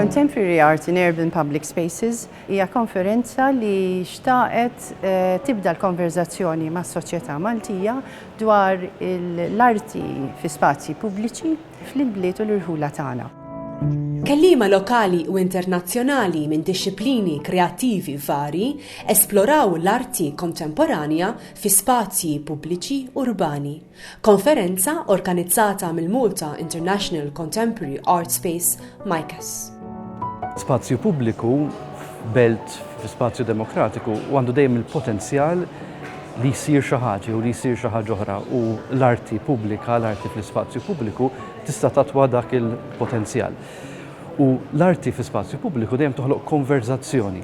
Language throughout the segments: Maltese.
Contemporary Art in Urban Public Spaces hija konferenza li xtaqet eh, tibda l-konverzazzjoni ma' soċjetà Maltija dwar l-arti fi spazji pubbliċi fl-imbliet u l-irħula tagħna. Kellima lokali u internazzjonali minn dixxiplini kreattivi vari esploraw l-arti kontemporanja fi spazji pubbliċi urbani. Konferenza organizzata mill-Malta International Contemporary Art Space, MICAS. Spazju pubbliku f'belt fi spazju demokratiku u għandu dejjem il-potenzjal li jsir xi ħaġa u li jsir xi ħaġa oħra u l-arti pubblika, l-arti fl-ispazju pubbliku tista' tatwa dak il-potenzjal. U l-arti fi spazju pubbliku dejjem toħloq konverzazzjoni.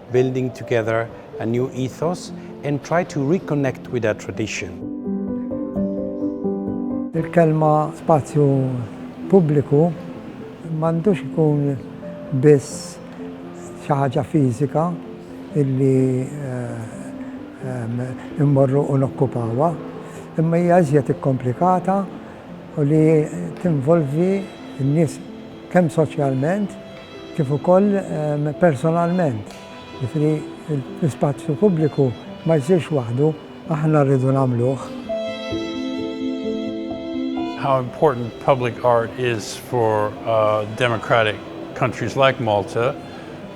building together a new ethos and try to reconnect with that tradition. Il-kelma spazju pubbliku m'għandux ikun biss xi ħaġa fiżika illi immorru u nokkupawha, imma hija iżjed ikkomplikata u li tinvolvi n-nies kemm soċjalment, kif ukoll personalment, jiġifieri l-ispazju pubbliku ma jsirx waħdu, aħna rridu nagħmluh. How important public art is for democratic countries like Malta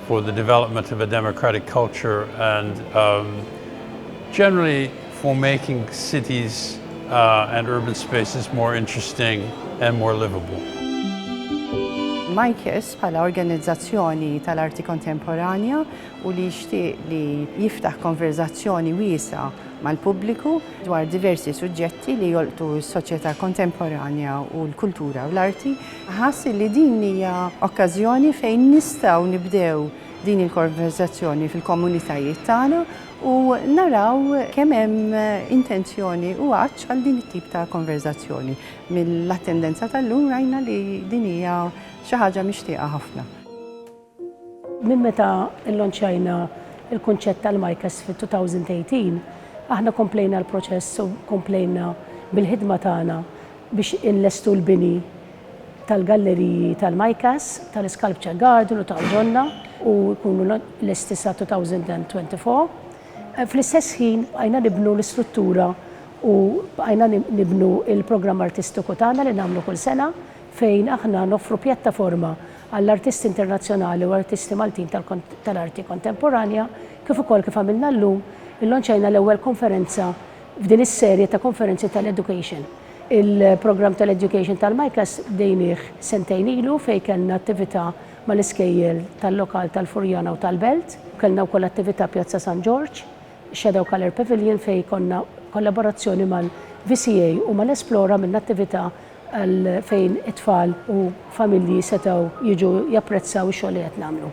for the development of a democratic culture and generally for making cities and urban spaces more interesting and more livable. Maiques bħala organizzazzjoni tal-arti kontemporanja u li jixtieq li jiftaħ konverżazzjoni wiesgħa mal-pubbliku dwar diversi suġġetti li jolqtu s-soċjetà kontemporanja u l-kultura u l-arti, ħass li din hija okkażjoni fejn nistgħu nibdew din il-konverżazzjoni fil-komunitajiet tagħna u naraw kemm hemm intenzjoni u għatx għal din it-tip ta' konverżazzjoni. Mill-attendenza tal-lum rajna li din hija xi ħaġa mixtieqa ħafna. Minn meta llonċjajna l-kunċett tal-MICAS fit-2018, aħna komplejna l-proċess u komplejna bil-ħidma tagħna biex inlestu l-bini, tal-galleriji tal-MICAS, tal-iSculpture Garden u ta' Awdonna u jkunu lesti sa 2024. Fl-istess ħin bqajna nibnu l-istruttura u bqajna nibnu l-programm artistiku tagħna li nagħmlu kull sena fejn aħna noffru pjattaforma għall-artisti internazzjonali u artisti Maltin tal-arti kontemporanja kif ukoll kif għamilna llum, illonċajna l-ewwel konferenza F'din is-serje ta' konferenzi tal-education, il-programm tal-education tal-MICAS bdejnieh sentejn ilu fejn kellna attività mal-iskejjel tal-lokal tal-Furjana u tal-Belt. Kellna wkoll attività Pjazza San Ġorġ, Shadow Colour Pavilion fejn konna kollaborazzjoni mal-VCA u mal-Esplore għamilna attività għal fejn it-tfal u familji setgħu jiġu japprezzaw ix-xogħol li qed nagħmlu.